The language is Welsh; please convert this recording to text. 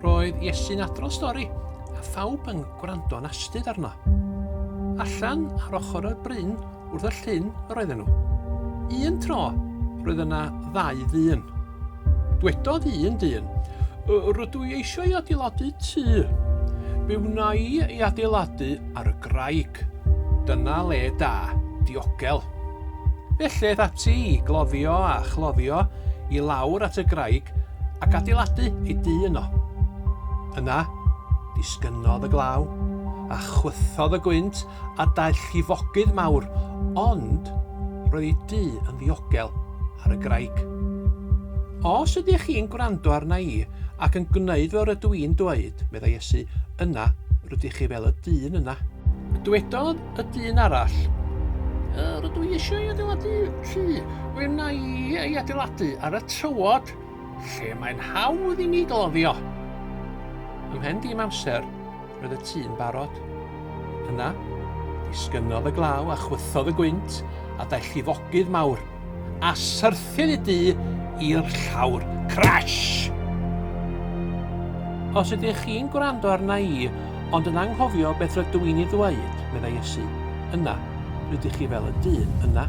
Roedd Iesu'n adrodd stori, a phawb yn gwrando'n astud arno. Allan ar ochr y bryn wrth y llyn yr oedden nhw. Un tro, roedd yna ddau ddyn. Dwedodd un dyn, Rydw i eisiau adeiladu tŷ. Be wna i ei adeiladu ar y graig. Dyna le da, diogel. Felly aeth ati i gloddio a chloddio i lawr at y graig ac adeiladu ei dŷ yno. Yna, disgynnodd y glaw, a chwythodd y gwynt a daeth llifogydd mawr, ond roedd ei dŷ yn ddiogel ar y graig. Os ydych chi'n gwrando arna i, Ac yn gwneud fel rydw i'n dweud, meddai Iesu, yna rydych chi fel y dyn yna. Dywedodd y dyn arall, Rydw i eisiau ei adeiladu tŷ. Fe wna i ei adeiladu ar y tywod lle mae'n hawdd i mi gloddio. Ymhen dim amser, Roedd y tŷ'n barod. Yna, disgynnodd y glaw a chwythodd y gwynt, a daeth llifogydd mawr, a syrthiodd y du i'r llawr. Crash! Os ydych chi'n gwrando arna i, ond yn anghofio beth rydw i'n ei ddweud, meddai Iesu, yna, rydych chi fel y dyn yna.